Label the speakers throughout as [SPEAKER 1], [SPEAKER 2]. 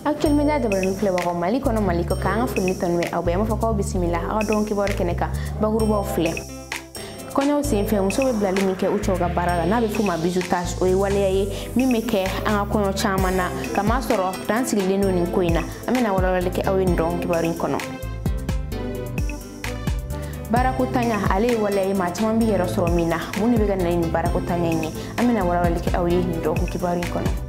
[SPEAKER 1] actuel media jabarani filɛbagaw mali kɔnɔ mali kɔkan an ka foli ni tanu bɛ aw bɛɛ an b'a fɔ k'aw bisimila aw ka don kibaru kɛnɛ kan bakurubaw filɛ kɔɲɔw senfɛ muso bɛ bilali min kɛ u cɛw ka baara la n'a bɛ f'o ma bizutage o ye waleya ye min bɛ kɛ an ka kɔɲɔ caman na kamasɔrɔ dan sigilen don nin ko in na an bɛna walawalali kɛ aw ye nin don kibaru in kɔnɔ baarako tanya ale ye waleya ye maa caman b'i yɛrɛ sɔrɔ min na mun de bɛ ka na ni baarako tanya in ye an bɛna walawalali kɛ aw ye nin don kibaru in kɔnɔ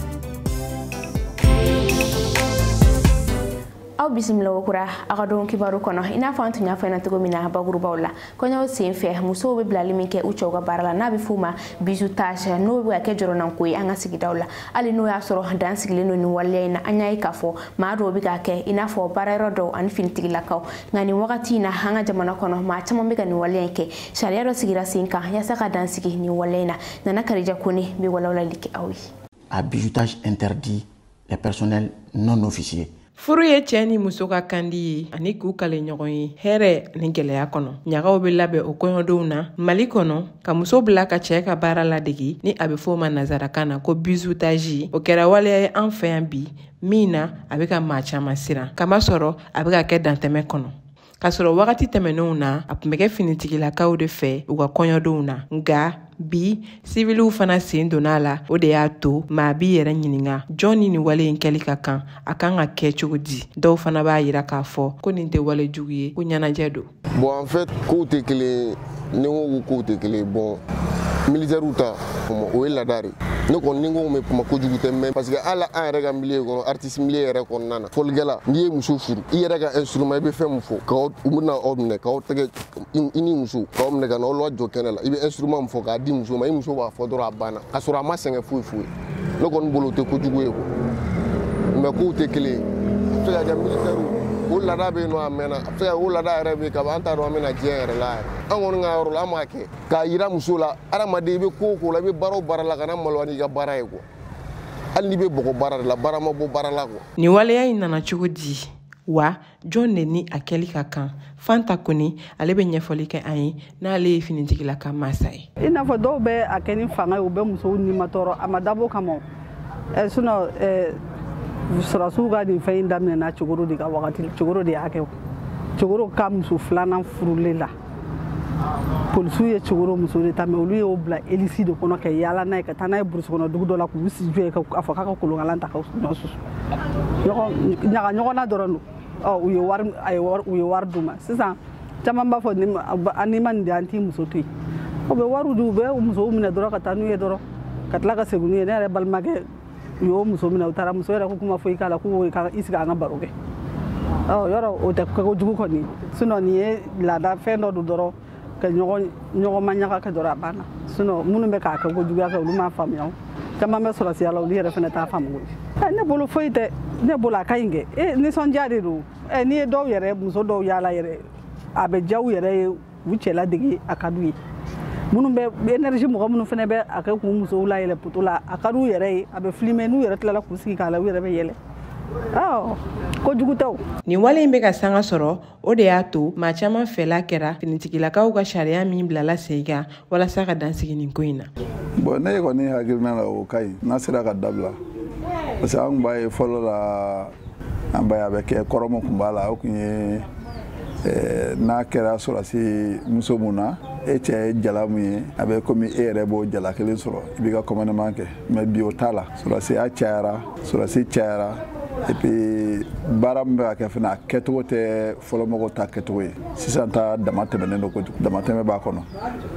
[SPEAKER 1] aw bisimila kokura aw ka don kibaru kɔnɔ i n'a fɔ an tun y'a f'aw ɲɛna cogo min na bakurubaw la kɔɲɔw sen fɛ musow bɛ bilali min kɛ u cɛw ka baara la n'a bɛ f'o ma bizutage n'o bɛ ka kɛ jɔrɔnanko ye an ka sigidaw la hali n'o y'a sɔrɔ dan sigilen don nin waleya in na an y'a ye k'a fɔ maa dɔw bɛ k'a kɛ i n'a fɔ baarayɔrɔ dɔw ani finitigilakaw nka nin wagati in na an ka jamana kɔnɔ maa caman bɛ ka nin waleya in kɛ sariya dɔ sigira sen kan yaasa ka dan sigi nin waleya in na nana karija kone bɛ walawalali kɛ aw ye. à bizutage
[SPEAKER 2] interdit les personnels non officiers furu ye cɛɛ
[SPEAKER 3] ni muso ka kandi ye ani k'u kale ɲɔgɔn ye hɛrɛ ni gwɛlɛya kɔnɔ ɲagaw be labɛn o kɔɲɔdenw na mali kɔnɔ ka muso bila ka cɛɛ ka baara ladegi ni a be f'o ma nazarakan na ko bizutaji o kɛra waleya ye an fɛ yan bi min na a be ka maa caaman siran kamasɔrɔ a be ka kɛ dantɛmɛ kɔnɔ k'a sɔrɔ wagati tɛmɛnenw na a tun bɛ kɛ finitigilakaw de fɛ u ka kɔɲɔdenw na nka bi siviliw fana sen donna a la o de y'a to maa b'i yɛrɛ ɲininka jɔn ni nin wale in kɛli ka kan a kan ka kɛ cogo di dɔw fana b'a yira k'a fɔ ko nin tɛ wale jugu ye ko ɲɛnajɛ don bon en fait kow
[SPEAKER 4] tɛ kelen ni ko ko kow tɛ kelen ye bon militɛriw ta o ye laada de ne kɔni ni n ko n bɛ kuma kojugu tɛ mɛ parce que hali an yɛrɛ ka milieu kɔnɔ artiste milieu yɛrɛ kɔnɔna na fɔlikɛla n'i ye muso furu i yɛrɛ ka instrument i bɛ fɛn min fɔ k'aw u bɛna aw minɛ k'aw tɛgɛ i ni muso k'aw minɛ ka na aw lajɔ kɛnɛ la i bɛ instrument min fɔ k'a di muso ma i muso b'a fɔ dɔrɔn a banna k'a sɔrɔ a ma sɛgɛn foyi foyi ne kɔni bolo o tɛ kojugu ye kuwa mɛ kow tɛ kelen ye a bɛ se ka kɛ militɛriw o laada bɛ yen nɔ a mɛnna a bɛ se ka o laada yɛrɛ bɛ yen kaban an t'a dɔn an ma na diɲɛ yɛrɛ la yɛrɛ an kɔni ka yɔrɔ la an b'a kɛ k'a yira muso la adamaden i bɛ ko o ko la i bɛ baara o baara la kana maloya n'i ka baara ye kuwa hali n'i bɛ bɔgɔ baara de la baara ma bɔ baara la kuwa nin waleya in nana
[SPEAKER 3] cogo di wa jɔn de ni a kɛli ka kan fanta kone ale bɛ ɲɛfɔli kɛ an ye n'ale ye finitigilaka masa ye i n'a fɔ dɔw bɛ a
[SPEAKER 5] kɛ ni fanga ye u bɛ musow nimatɔɔrɔ a ma dabɔ o kama eh, sinɔ eh, sɔrɔdasiw ka nin fɛn in daminɛna cɛkɔrɔ de ka wagati cɛkɔrɔ de y'a kɛ cɛkɔrɔ ka muso filanan furulen na polisiw ye cɛkɔrɔ muso de ta mɛ olu y'o bila elisi de kɔnɔ ka yaala n'a ye ka taa n'a ye burusi kɔnɔ dugu dɔ la k'u si jɔ ye k'a fɔ k'a ka kolonkalan ta ka ɲɔ susu ɲaga ɲɔgɔnna dɔrɔn don u ye wari d'u ma sisan caman b'a fɔ n'i ma nin di an t'i muso to yen u bɛ wariw di u bɛ musow minɛ dɔrɔn ka taa n'u ye dɔrɔn ka tila ka segin n'u ye ne yɛrɛ balimakɛ u y'o muso minɛ u taara muso yɛrɛ ko kuma foyi t'a la k'u ka i sigi an ka baro kɛ yɔrɔ o tɛ kɛko jugu kɔni sinɔn nin ye laada fɛn dɔ don dɔrɔn ka ɲɔgɔn ma ɲaga kɛ dɔrɔn a banna sinɔn minnu bɛ k'a kɛ ko juguya kɛ olu m'a faamuya o caman bɛ sɔrɔsiya la olu yɛrɛ fana t'a faamu koyi ne bolo foyi tɛ ne bolo a ka ɲi kɛ nisɔndiya de don n'i ye dɔw yɛrɛ muso dɔw y'a la yɛrɛ a bɛ diya u yɛrɛ ye u cɛla dege a ka d'u ye minnu bɛ energie mɔgɔ minnu fana bɛ a kɛ k'u musow layɛlɛ poto la a ka d'u yɛrɛ ye a bɛ filime n'u yɛrɛ tilala k'u sigi k'a la u yɛrɛ bɛ yɛlɛ ko jugu tɛ nin wale in bɛ ka
[SPEAKER 3] sanga sɔrɔ o de y'a to maa caman fɛla kɛra finitigilakaw ka sariya min bilala sen kan walasa ka dan sigi nin ko in na bɔn ne kɔni
[SPEAKER 6] hakilina la o ka ɲi n'a sera ka dabila parce que an tun b'a ye fɔlɔ la an b'a ye a bɛ kɛ kɔrɔ mun tun b'a la o tun ye eh, n'a kɛra sɔrɔsi muso mun na e cɛ ye jala mun ye a bɛ komi e yɛrɛ b'o jala kelen sɔrɔ i b'i ka kɔmandeman kɛ mɛ bi o t'a la sɔrɔsiya cayara sɔrɔsi cayara epi baara min bɛ ka kɛ fana a kɛcogo tɛ fɔlɔmɔgɔw ta kɛcogo ye sisan ta damatɛmɛnen don kojugu damatɛmɛ b'a kɔnɔ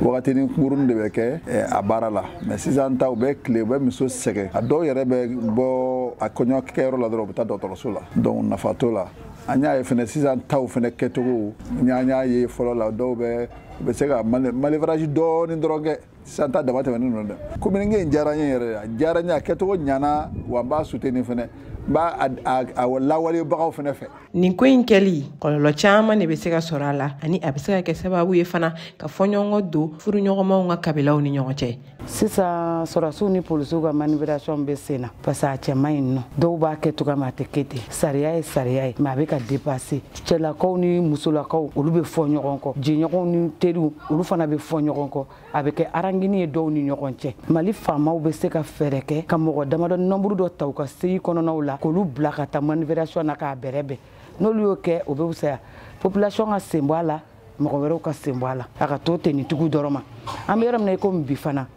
[SPEAKER 6] wagatinin kunkurunnin de bɛ kɛ eh, a baara la mɛ sisan ta u bɛ tile u bɛ muso sɛgɛn a dɔw yɛrɛ bɛ bɔ a kɔɲɔkɛyɔrɔ la dɔrɔn u bɛ taa dɔgɔtɔrɔso la donc nafa t'o la an y'a ye fɛnɛ sisan taw fɛnɛ kɛcogo n y'a ye fɔlɔ la dɔw bɛ u bɛ se ka manœuvrage dɔɔni dɔrɔn kɛ sisan ta damatɛmɛnen don dɛ communique in diyara n ye yɛrɛ a diyara n ye a kɛcogo ɲana wa n b'a soutenir fɛnɛ n b'a a lawalebagaw fɛnɛ fɛ nin ko in
[SPEAKER 3] kɛli kɔlɔlɔ caaman ne bɛ se ka sɔrɔ a la ani a bɛ se ka kɛ sababu ye fana ka fɔɲɔgɔnkɔ don furuɲɔgɔnmaw ka kabilaw ni ɲɔgɔn cɛ sisan
[SPEAKER 7] sɔrɔsiw ni polisiw ka manœuvration bɛ sen na parce que a cɛ man ɲi nɔ dɔw b'a kɛ cogo min a tɛ kɛ ten sariya ye sariya ye mɛ a bɛ ka depase cɛlakaw ni musolakaw olu bɛ fɔ ɲɔgɔn kɔ jɛɲɔgɔnw ni teriw olu fana bɛ fɔ ɲɔgɔn kɔ a bɛ kɛ arangini ye dɔw ni ɲɔgɔn cɛ mali faamaw bɛ se ka fɛɛrɛ kɛ ka mɔgɔ damadɔ nɔnburu dɔ ta u ka segi kɔnɔnaw la k'olu bila ka taa manœuvration na k'a bɛrɛbɛn n'olu y'o kɛ o bɛ fisaya population ka sen bɔ a la mɔgɔ wɛrɛw ka sen bɔ a la a ka to tenitigiw dɔrɔn ma an bɛ yɔrɔ min na i komi bi fana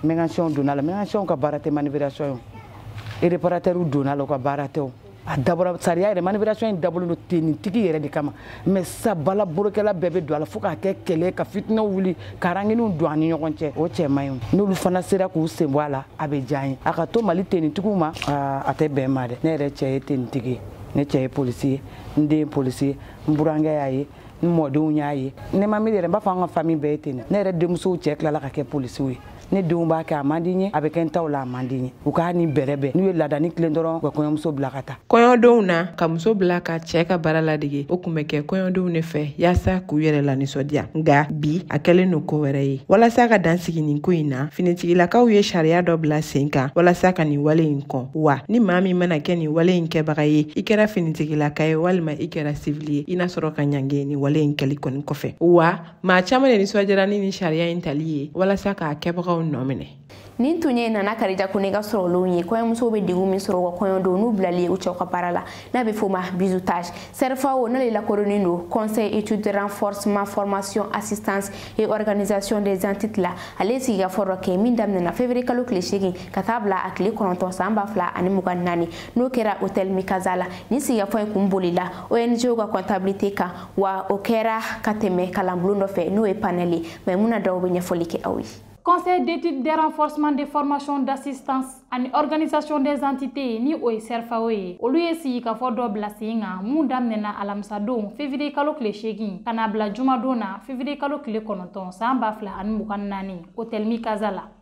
[SPEAKER 7] mekanisiyɛnw donna a la mekanisiyɛnw ka baara tɛ manœuvration ye o ereparatɛriw donna a la u ka baara tɛ o a dabɔra sariya yɛrɛ manœuvration in dabɔlen don tenitigi yɛrɛ de kama mɛ sisan baarabolo kɛla bɛɛ bɛ don a la fo k'a kɛ kɛlɛ ka fitinɛw wuli ka ranginiw don an ni ɲɔgɔn cɛ o cɛ man ɲi n'olu fana sera k'u sen bɔ a la a bɛ diya an ye a ka to mali tenitigiw ma a tɛ bɛn ma dɛ ne yɛrɛ cɛ ye tenitigi ye ne cɛ ye polisi ye n den ye polisi ye n burankɛ y'a ye n mɔdenw y'a ye ne ma miiri yɛrɛ n b'a fɔ an ka fami bɛɛ ye ten ne yɛrɛ denmusow cɛ tilala ka kɛ polisiw ye ne denw b'a kɛ a man di n ye a bɛ kɛ n taw la a man di n ye u k'a ni bɛrɛ bɛn n'u ye laadani tilen dɔrɔn u ka kɔɲɔmuso bila ka taa kɔɲɔdenw na ka muso
[SPEAKER 3] bila ka cɛ ka baara ladege o kun bɛ kɛ kɔɲɔdenw ne fɛ yaasa k'u yɛrɛ lanisɔndiya nga bi a kɛlen no ko wɛrɛ ye walasa ka dan sigi nin ko in na finitigilakaw ye sariya dɔ bila sen kan walasa ka nin wale in kɔn wa ni maa min mana kɛ nin wale in kɛbaga ye i kɛra finitigilaka ye walima i kɛra sivili ye i na sɔrɔ ka ɲangi nin wale in kɛli kɔni kɔfɛ wa maa caaman de nisɔndiyara ni nin sariya in tali ye walasa k'a kɛbagaw nɔ minɛ nin tun ye nana
[SPEAKER 1] karija kone ka sɔrɔlenw ye kɔɲɔmusow bɛ degun min sɔrɔ u ka kɔɲɔ don n'u bilali ye u cɛw ka baara la n'a bɛ f'o ma bizutage CERFAO n'ale lakodɔnnen don conseil étude de renforcement formation assistance et organisation des entités la ale ye sigikafɔ dɔ kɛ min daminɛna février kalo tile seegin ka taa bila a tile kɔnɔntɔn san ba fila ani mugan naani n'o kɛra hotel mikaza la nin sigikafɔ in kun bolila ONG ka kɔntabilite kan wa o kɛra ka tɛmɛ kalanbulon dɔ fɛ n'o ye panɛl ye maimuna daw bɛ ɲɛfɔli kɛ aw ye Conseil d'études
[SPEAKER 8] de renforcement des formations d'assistance ani organisation des entités ni o ye CERFAO ye olu ye sigikafɔ dɔ bila sen kan min daminɛna alamisadon février kalo tile seegin ka na bila jumadon na février kalo tile kɔnɔntɔn san ba fila ani mugan naani hôtel Mikaza la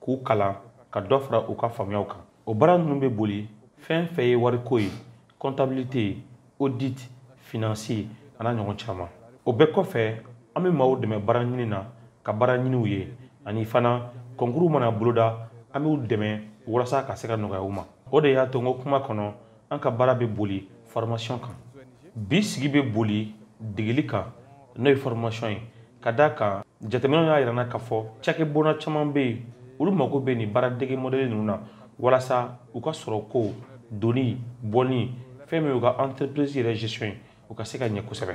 [SPEAKER 9] k'u kalan ka dɔ fara u ka faamuyaw kan o baara ninnu bɛ boli fɛn fɛn ye wariko ye kɔntabilite audit finansi an'a ɲɔgɔn caman o bɛɛ kɔfɛ an bɛ maaw dɛmɛ baara ɲini na ka baara ɲiniw ye ani fana kɔnkuru mana boloda an b'u dɛmɛ walasa ka se ka nɔgɔya u ma o de y'a to n ko kuma kɔnɔ an ka baara bɛ boli formation kan bi sigi bɛ boli degeli kan n'o ye formation ye ka d'a kan jateminɛw y'a yira an na k'a fɔ cakɛbona caman bɛ yen olu mago bɛ nin baaradege mɔdɛli ninnu na walasa u ka sɔrɔko donni bɔni fɛn min y'u ka entreprise yɛrɛ gestion ye u ka se ka ɲɛ kosɛbɛ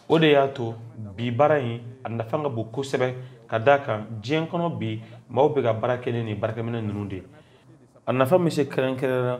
[SPEAKER 9] o de y'a to bi baara in a nafa ka bon kosɛbɛ ka d'a kan diɲɛ kɔnɔ bi maaw bɛ ka baara kɛ ni nin baarakɛminɛ ninnu de ye a nafa bɛ se kɛrɛnkɛrɛnnenya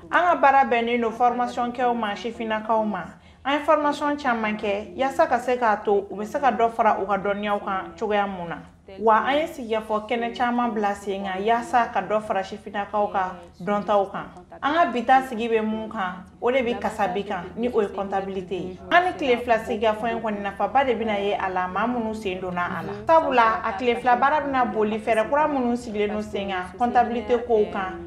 [SPEAKER 10] an ka baara bɛnnen
[SPEAKER 11] don fɔrmasɔn kɛw ma sifinnakaw ma an ye fɔrmasɔn caman kɛ yaasa ka se k'a to u bɛ se ka dɔ fara u ka dɔnniyaw kan cogoya mun na wa an ye sigikafɔ kɛnɛ caman bila sen kan yaasa ka dɔ fara sifinnakaw ka dɔntaw kan an ka bi ta sigi bɛ mun kan o de bɛ kasabi kan ni o ye kɔntabilite ye an ni tile fila sigikafɔ in kɔni nafaba de bɛna ye a la maa minnu sen donna a la sabula a tile fila baara bɛna boli fɛɛrɛ kura minnu sigilen don sen kan kɔntabilite kow kan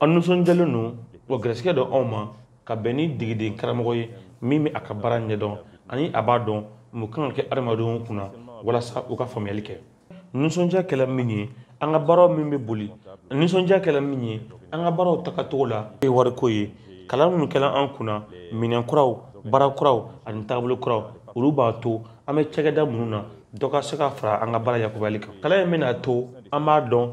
[SPEAKER 12] an nisɔndiyalen don wa garisigɛ
[SPEAKER 9] don anw ma ka bɛn ni degeden karamɔgɔ ye min bɛ a ka baara ɲɛdɔn ani a b'a dɔn mun kan ka kɛ adamadenw kunna walasa u ka faamuyali kɛ nisɔndiya kɛla min ye an ka baaraw min bɛ boli nisɔndiya kɛla min ye an ka baaraw tagacogo la ye wariko ye kalan minnu kɛla an kunna minɛn kuraw baara kuraw ani taabolo kuraw olu b'a to an bɛ cakɛda minnu na dɔ ka se ka fara an ka baara yakubali kan kalan in bɛn'a to an b'a dɔn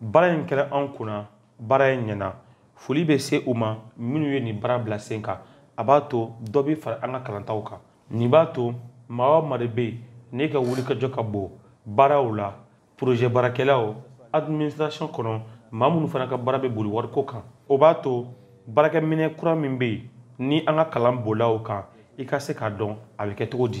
[SPEAKER 9] baara in kɛra an kunna baara in ɲɛna foli bɛ se u ma minnu ye nin baara bila sen kan a b'a to dɔ bɛ fara an ka kalantaw kan nin b'a to maa o maa de bɛ yen n'e ka wulikajɔ ka bon baaraw la porozɛ baarakɛlaw administration kɔnɔ maa minnu fana ka baara bɛ boli wariko kan o b'a to baarakɛminɛn kura min bɛ yen ni an ka kalan bolaw kan i ka se k'a dɔn a bɛ kɛ cogo di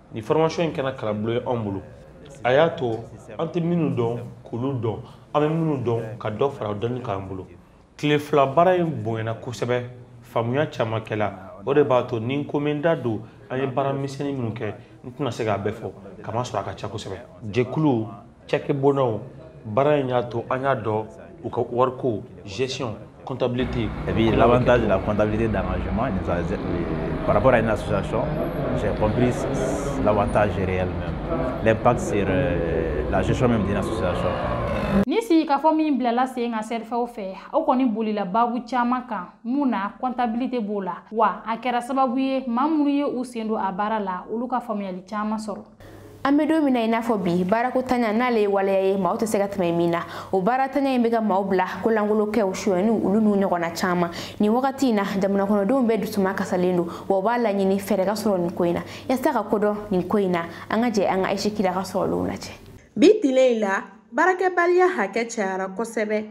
[SPEAKER 9] nin formation in kɛra kalanbolo ye anw bolo a y'a to an tɛ minnu dɔn k'olu dɔn an bɛ minnu dɔn ka dɔ fara o dɔnni kan an bolo tile fila baara in bonyana kosɛbɛ faamuya caman kɛla o de b'a to ni n ko n bɛ n da don an ye baara misɛnnin minnu kɛ n tɛna se k'a bɛɛ fɔ kamasɔrɔ a ka ca kosɛbɛ jɛkulu cakɛbonnaw baara in y'a to an y'a dɔn u ka wariko gestion comptabilité et puis
[SPEAKER 13] l'avantage de la comptabilité d'engagement par rapport à une association j'ai compris l'avantage réel même l'impact sur euh, la gestion même d'une association
[SPEAKER 8] nin sigikafɔ min bilala sen kan sɛrifɛw fɛ o kɔni bolila baabu caaman kan min na kɔntabilite b'o la wa a kɛra sababu ye maa minnu ye u sen don a baara la olu ka faamuyali caaman sɔrɔ an bɛ don min
[SPEAKER 1] na i n'a fɔ bi baarako ntanya n'ale ye waleya ye maaw tɛ se ka tɛmɛ min na o baarantanya in bɛ ka maaw bila ko lankolon kɛw suyɛniw olu n'u ɲɔgɔnna caman nin wagati in na jamanakɔnɔdenw bɛɛ dusuma kasalen don wa u b'a laɲini fɛɛrɛ ka sɔrɔ nin ko in na yaasa ka ko dɔn nin ko in na an ka jɛ an ka ayise kida ka sɔrɔlenw lajɛ bi tile in la
[SPEAKER 14] baarakɛbaliya hakɛ cayara kosɛbɛ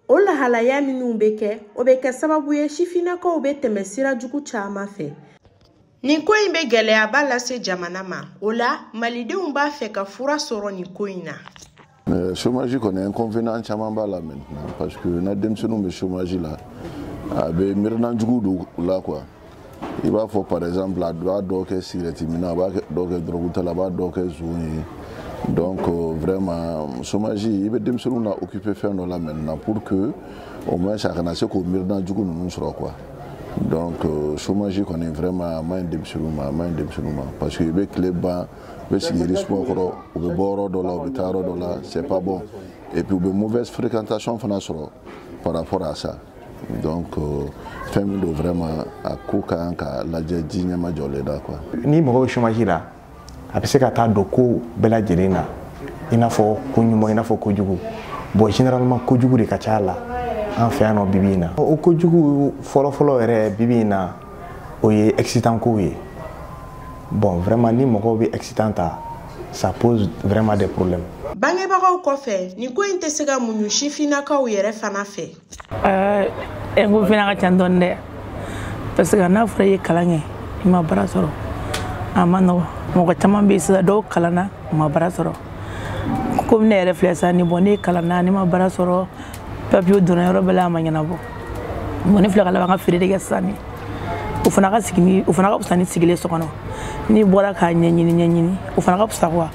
[SPEAKER 14] o lahalaya minnu bɛ kɛ o bɛ kɛ sababu ye sifinnakaw bɛ tɛmɛ sira jugu caman fɛ nin ko in bɛ gɛlɛyaba lase jamana ma o la malidenw b'a fɛ ka fura sɔrɔ nin ko in na euh, chômage
[SPEAKER 4] kɔni inconvénient caman b'a la maintenant parce que n'a denmisɛnninw bɛ chômage la a bɛ miirina jugu don u la quoi i b'a fɔ par exemple a b'a dɔw kɛ sigirɛti minna a b'a dɔw kɛ dɔrɔgutala a b'a dɔw kɛ zon ye donc euh, vraiment chômage i bɛ denmisɛnninw na occuper fɛn dɔ la maintenant pour que au moins a kana se k'o miirina jugu ninnu sɔrɔ quoi donc euh, chômage kɔni vraiment a ma ɲi denmisɛnninw ma a ma ɲi denmisɛnninw ma parce que u bɛ tile ban u bɛ sigi yiri suma kɔrɔ u bɛ bɔ yɔrɔ dɔ la u bɛ taa yɔrɔ dɔ la c'est pas bon et puis u bɛ mauvaise fréquentation fana sɔrɔ par rapport à ça donc euh, fɛn min don vraiment a ko ka kan ka lajɛ ji ɲɛma jɔlen da quoi ni mɔgɔ bɛ chômage la
[SPEAKER 15] a bɛ se ka taa don ko bɛɛ lajɛlen na i n'a fɔ ko ɲuman i n'a fɔ ko jugu bon généralement ko jugu de ka ca a la an fɛ yan nɔ bibi in na o ko jugu fɔlɔfɔlɔ yɛrɛ bibi in na o ye excitant kow ye bon vraiment ni mɔgɔw bɛ excitant ta ça pose vraiment des problèmes bangebagaw kɔfɛ
[SPEAKER 14] nin ko in tɛ se ka muɲu sifinnakaw yɛrɛ fana fɛ
[SPEAKER 16] eh, eh, n ko fana ka ca dɔɔni dɛ parce que n'a fɔra i ye kalan kɛ i ma baara sɔrɔ a ma nɔgɔ mɔgɔ caman bɛ yen sisan dɔw kalanna u ma baara sɔrɔ komi ne yɛrɛ filɛ sisan ni bon ne kalanna ne ma baara sɔrɔ papier donna yɔrɔ bɛɛ la a ma ɲɛnabɔ bon ne filɛ ka laban ka feere de kɛ sisan ni o fana ka sigi ni o fana ka fisa ni sigilen so kɔnɔ n'i bɔra k'a ɲɛɲini ɲɛɲini o fana ka fisa quoi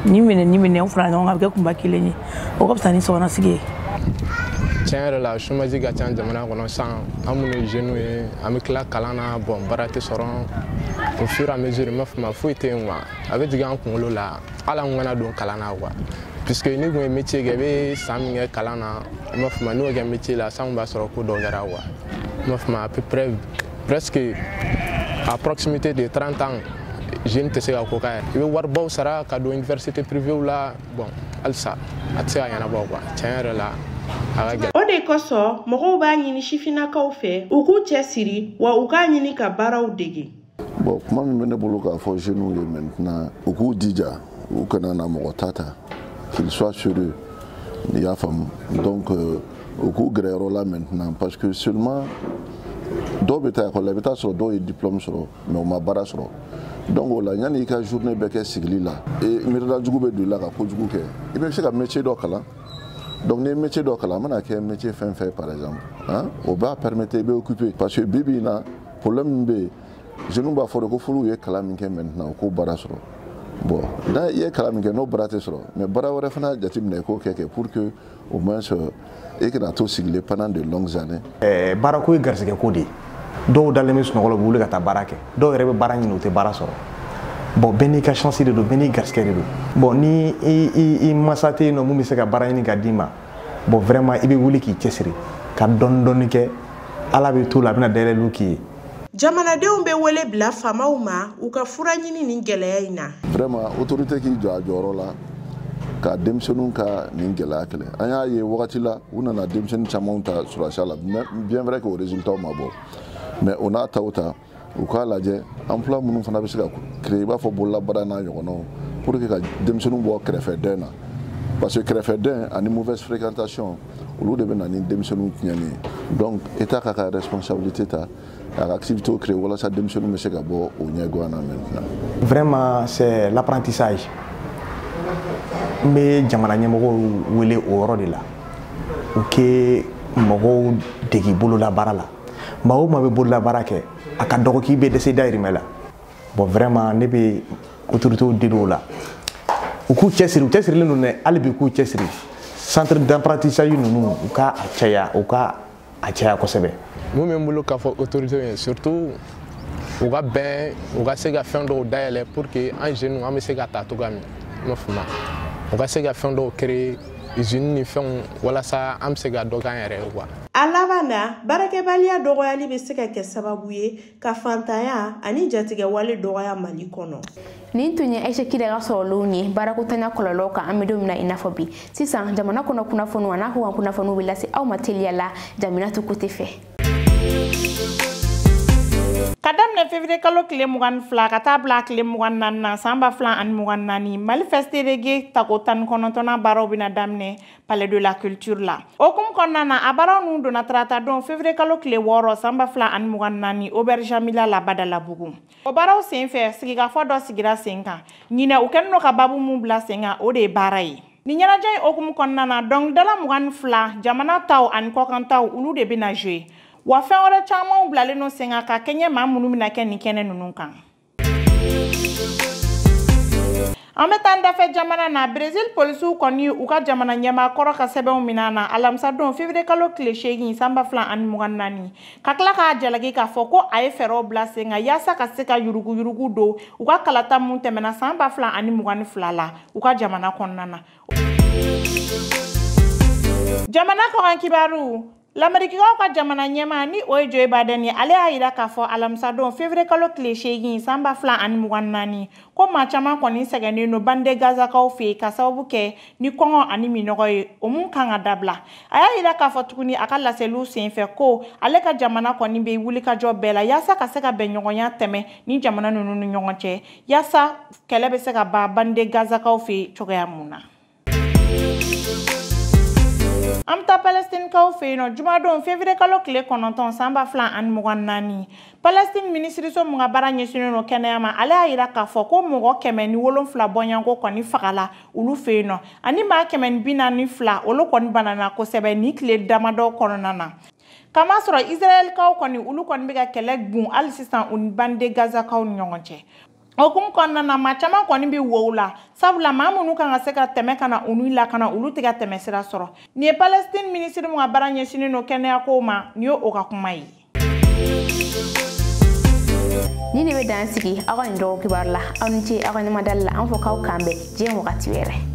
[SPEAKER 16] ni minɛ ni minɛ o fara ɲɔgɔn kan a bɛ kɛ kunba kelen ye o ka fisa ni sokɔnɔ sigi ye tiɲɛ
[SPEAKER 17] yɛrɛ la chômage ka ca jamana kɔnɔ san an minnu ye jeunes ye an bɛ tila kalan na bon baara tɛ sɔrɔ au fur et à mesure n b'a fɔ ma foyi tɛ yen quoi a bɛ jigin an kunkolo la hali an kana don kalan na quoi puisque n'i tun ye métier kɛ i bɛ san min kɛ kalan na n b'a fɔ ma n'o kɛ métier la san kun b'a sɔrɔ ko dɔ kɛra quoi à peu près presque à proximité de 30 ans jeune tɛ se ka ko kɛ i bɛ waribaw sara ka don université privéew la bon halisa a tɛ se ka ɲɛnabɔ quoi tiɲɛ yɛrɛ la a ka gɛlɛn o de
[SPEAKER 14] kosɔn mɔgɔw b'a ɲini sifinnakaw fɛ u k'u cɛsiri wa u k'a ɲini ka baaraw dege bon kuma min
[SPEAKER 4] bɛ ne bolo k'a fɔ jeunes ye maintenant u k'u jija u kana na mɔgɔ ta ta qu'ils soient sérieux i y'a faamu donc euh, u k'u gɛrɛ yɔrɔ la maintenant parce que seulement
[SPEAKER 18] dɔw bɛ taa ekɔli la i bɛ taa sɔrɔ dɔw ye diplôme sɔrɔ mais u ma baara sɔrɔ donc o la yanni i ka journée bɛɛ kɛ sigili la miirida jugu bɛ don i la ka kojugu kɛ i bɛ se ka métier dɔ kalan donc n'i ye métier dɔ kalan a mana kɛ métier fɛn fɛn par exemple o b'a permettre i bɛ occuper parce que bi bi in na problème min bɛ yen jeunes b'a fɔ de ko f'olu ye kalan min kɛ maintenant u k'o baara sɔrɔ bon n'i ye kalan min kɛ n'o baara tɛ sɔrɔ mais baara wɛrɛ fana jateminɛ i k'o kɛ kɛ pour que au moins euh, i kana to sigilen pendant de longues années. Eh, baarako
[SPEAKER 15] ye garisigɛ ko de ye dɔw dalen bɛ sunɔgɔ la u bɛ wuli ka taa baara kɛ dɔw yɛrɛ bɛ baara ɲini u tɛ baara sɔrɔ bon bɛɛ n'i ka chance de don bɛɛ n'i garisigɛ de don bon ni i i i mansa tɛ yen nɔ min bɛ se ka baara ɲini ka d'i ma bon vraiment i bɛ wuli k'i cɛsiri ka dɔɔni dɔɔni kɛ ala bɛ to la a bɛna dayɛlɛliw k'i ye jamanadenw bɛ
[SPEAKER 14] wele bila faamaw ma u ka fura ɲini nin gɛlɛya in na vraiment
[SPEAKER 18] autorité k'i jɔ a jɔyɔrɔ la ka denmisɛnninw ka nin gɛlɛya kɛlɛ an y'a ye wagati la u nana denmisɛnnin camanw ta sɔrɔdasiya la bien vrai que o résultat ma bɔ mais o n'a ta o ta u k'a lajɛ emploi minnu fana bɛ se ka créer i b'a fɔ bololabaara n'a ɲɔgɔnnaw pour que ka denmisɛnninw bɔ kɛrɛfɛ dɛn na parce que kɛrɛfɛ dɛn ani mauvaise fréquentation olu de bɛ na ni denmisɛnninw tiɲɛni ye donc état k'a ka responsabilité ta a ka activité créer walasa denmisɛnninw bɛ se ka bɔ o ɲɛgoya na maintenant vraiment
[SPEAKER 15] c'est l'apprentissage n bɛ jamana ɲɛmɔgɔw wele o yɔrɔ de la u kɛ mɔgɔw dege bololabaara la maa o maa bɛ bololabaara kɛ a ka dɔgɔ k'i bɛ dɛsɛ dayirimɛ la bon vraiment ne bɛ autorités deli o la u k'u cɛsiri u cɛsirilen don dɛ hali bi k'u cɛsiri centre d'apprentissage ninnu u ka a caya u ka a caya kosɛbɛ mun bɛ
[SPEAKER 19] n bolo k'a fɔ autorités ye surtout u ka bɛn u ka se ka fɛn dɔw dayɛlɛ pour que an jeunes an bɛ se ka taa cogoya min na i m'a faamuya u ka se ka fɛn dɔw créer izini ni fɛnw walasa an bɛ se ka dɔ k'an yɛrɛ ye quoi a laban
[SPEAKER 14] na baarakɛbaliya dɔgɔyali bɛ se ka kɛ sababu ye ka fantanya ani jatigɛwale dɔgɔya mali kɔnɔ nin tun ye
[SPEAKER 1] aisha kida ka sɔrɔlenw ye baarakotanya kɔlɔlɔw kan an bɛ don min na i n'a fɔ bi sisan jamana kɔnɔ kunnafoniw an'a kɔkan kunnafoniw bɛ lase aw ma teliya la jaminatu kote fɛ
[SPEAKER 11] ka daminɛ fevriye kalo tile mugan ni fila ka taa bila a tile mugan naani na san ba fila ani mugan naani mali festi reggae tako tan ni kɔnɔntɔnnan baaraw bɛna daminɛ palais de la culture la o hukumu kɔnɔna na a baaraw ninnu donna tarata don fevriye kalo tile wɔɔrɔ san ba fila ani mugan naani auberge jamila la badalabugu o baaraw sen fɛ sigikafɔ dɔ sigira sen kan ɲinɛ u kɛnin do ka babu min bila sen kan o de ye baara ye Nin ɲɛnajɛ in o hukumu kɔnɔna na dɔnkilidala mugan ni fila jamana taw ani kɔkan taw olu de bɛna jouer wa fɛn wɛrɛ camanw bilalen no sen kan ka kɛɲɛ maa minnu bɛna kɛ nin kɛnɛ ninnu kan an bɛ taa dafɛ jamana na brezil polisiw kɔni u ka jamana ɲɛmaa kɔrɔ ka sɛbɛnw minɛ na alamisadon fevriye kalo tile seegin san ba fila ani mugan naani ka tila k'a jalaki k'a fɔ ko a ye fɛɛrɛw bila sen kan yaasa ka se ka yuruguyurugu don u ka kalata min tɛmɛna san ba fila ani mugan ni fila la u ka jamana kɔnɔna na jamana kɔkan kibaru lamerikikaw ka jamana ɲɛmaa ni o ye joe biden ye ale y'a yira k'a fɔ alamisadon fevriye kalo tile seegin san ba fila ani mugan naani ko maa caman kɔni sɛgɛnnen don bande gazakaw fɛ ka sababu kɛ ni kɔngɔ ani minɔgɔ ye o mun kan ka dabila a y'a yira k'a fɔ tuguni a ka laseliw senfɛ ko ale ka jamana kɔni bɛ wulikajɔ bɛɛ la yaasa ka se ka bɛn ɲɔgɔnya tɛmɛ ni jamana ninnu ni ɲɔgɔn cɛ yaasa kɛlɛ bɛ se ka ban bande gazakaw fɛ yen cogoya mun na an bɛ taa palɛstinikaw fɛ yen nɔ jumadon fevriye kalo tile kɔnɔntɔn san ba fila ani mugan naani palɛstine minisiriso min ka baara ɲɛsinnen don kɛnɛya ma ale y'a yira k'a fɔ ko mɔgɔ kɛmɛ ni wolonfila bɔɲɔgɔnko kɔni fagala olu fɛ yen nɔ ani maa kɛmɛ ni bi naani fila olu kɔni banana kosɛbɛ nin tile damadɔ kɔnɔna na K'a masɔrɔ Israɛlkaw kɔni olu kɔni bɛ ka kɛlɛ bun hali sisan u ni bande Gazakaw ni ɲɔgɔn cɛ. O hukumu kɔnɔna na maa caman kɔni bɛ wow la sabula maa minnu kan ka se ka tɛmɛ ka na olu lakana olu tɛ ka tɛmɛ sira sɔrɔ. Nin ye Palestine minisiri min ka baara ɲɛsinnen don kɛnɛyakow ma nin ye o ka kuma
[SPEAKER 1] ye. Nin de bɛ dan sigi an ka nin dɔgɔ kibaru la aw ni ce aw ka ɲɛmadali la an fɔ k'aw k'an bɛn diɲɛ wagati wɛrɛ.